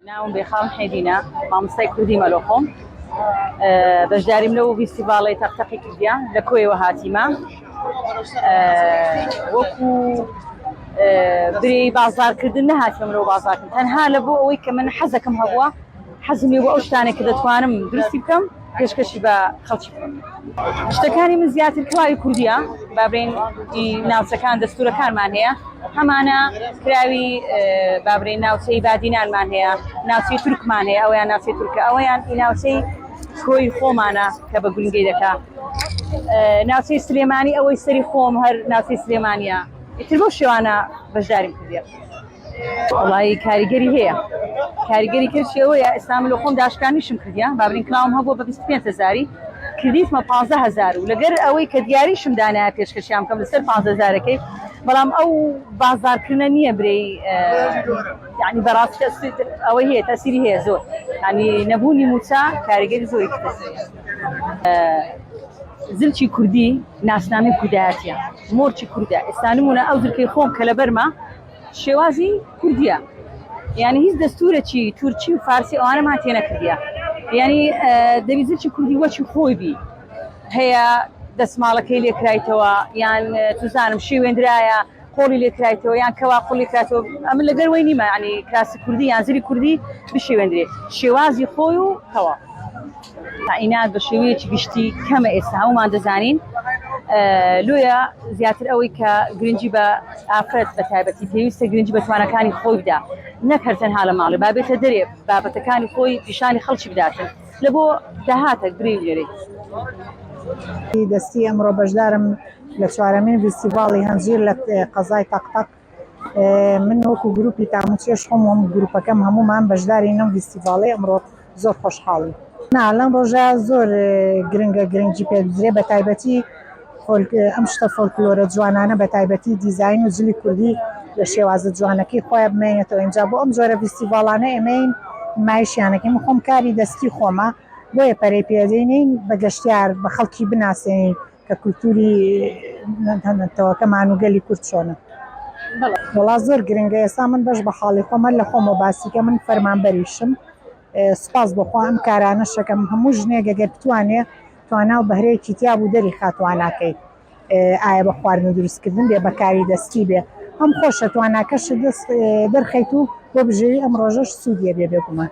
ناوم بێخاڵ حێدینە، مامۆستای کوردی مەلۆخۆم. بەشداریم لەو ڤیستیڤاڵەی تەق تەقی کوردیا لە کۆیەوە هاتیمە وەکو برێ بازارکردن نەهاتم لەو بازارکردن تەنها لە بۆ ئەوەی کە من حەزەکەم هەبووە حەزمی بۆ ئەو شتانێک کە دەتوانم درستی بکەم پێشکەشی بە خەڵکی بکەین شتەکانی من زیاتر کراوی کوردیە بابرین ناوچەکان دەستورەکانمان هەیە هەمانە کراوی بابرین ناوچەی بادینانمان هەیە ناوچەی تورکمان هەیە ئەویان ناوچەی تورکە ئەویان ئی ناوچەی کۆی خۆمانە کە بە گرنگی دەکا ناوچەی سلێمانی ئەوەی سەری خۆم هەر ناوچەی سلێمانە ئیتر بۆ شێوانە بەشداریم کردە. وڵی کاریگەری هەیە کاریگەری کەشی ئەوەیە ئێستا من لە خۆم داشکانیشم کردیان بابرین کلااوم هەبوو بە 25 هزاری کردیتمە 15 هزار و لەگەر ئەوەی کە دیاریشم دانایە پێشکەشیان کەم لەسەر 15 هزارەکەی بەڵام ئەو بازارکردە نییە برێی ینی بەڕاستی ئەوە هەیە تەسیری هەیە زۆر ینی نەبوونی موچە کاریگەری زۆری زلچی کوردی ناسنامی کوردایەتە مۆرچی کوردە ئێستانمونە ئەو زلکەی خۆم کە لە بەرمە شێوازی کوردیە یعنی هیچ دەستورەکی تورکی و فارسی ئەوانەمان تێ نەکردە یعنی دەویزرکی کوردی وەکی خۆی بی هەیە دەسماڵەکەی لێکرایتەوە یان توزانم شێوێنرایە قۆڵی لێکرایتەوە یان کەوا قوڵی کراتەوە ئەمە لەگەر وی نیمە ینی کراسی کوردی یان زری کوردی بشێوێنرێت شێوازی خۆی و تەوا تەعینات بە شێوەیەکی گشتی کەمە ئێستا هەموومان دەزانین لۆیە زیاتر ئەوەی کە گرنگی بە ئافرەت بە تایبەتی پێویستە گرنگی بە توانەکانی خۆی بدا نەکەر تەنها لە ماڵی بابێتە دەرێ بابەتەکانی خۆی پیشانی خەڵکی بداتن لە بۆ داهاتە گرێ لێرێت. دەستی ئەمڕۆ بەشدارم لە چوارەمین ڤیستیڤاڵی هەنجیر لە قەزای تەقتەق من وەکو گروپی تاموچێش خۆم و گروپەکەم هەموومان بەشداری نەم فیستیڤاڵی ئەمڕۆ زۆر خۆشحاڵی نا لەم ڕۆژە زۆر گرنگە گرنگی پێ بزرێ بە تایبەتی ئەم شتە فۆلکلۆرە جوانانە بە تایبەتی دیزین و جلی کوردی لە شێوازە جوانەکەی خۆی بمێنێتەوە ئینجا بۆ ئەم جۆرە فیستیڤاڵانە ئێمەین مایشیانەکەی من خۆم کاری دەستی خۆمە بۆیە پەرەی پێدەین بە گەشتیار بە خەڵکی بناسێنین. کە کولتوری نەتەوەکەمان و گەلی کورد چۆنە. وەڵا زۆر گرنگە ئێستا من بەش بە حاڵی خۆم هەر لە خۆمەوە باسی کە من فەرمانبەریشم سوپاس بۆ خوا ئەم کارانە شەکەم هەموو ژنێک گەگەر بتوانێ تواناو بەهرەیەکی تیابوو دەری خا تواناکەی ئایا بە خواردن دروستکردن بێ بەکاری دەستی بێ هەم خۆشە تواناکەش دەست دەرخەیت و بۆ بژێوی ئەم ڕۆژەش سوودیە بێ بێگومان.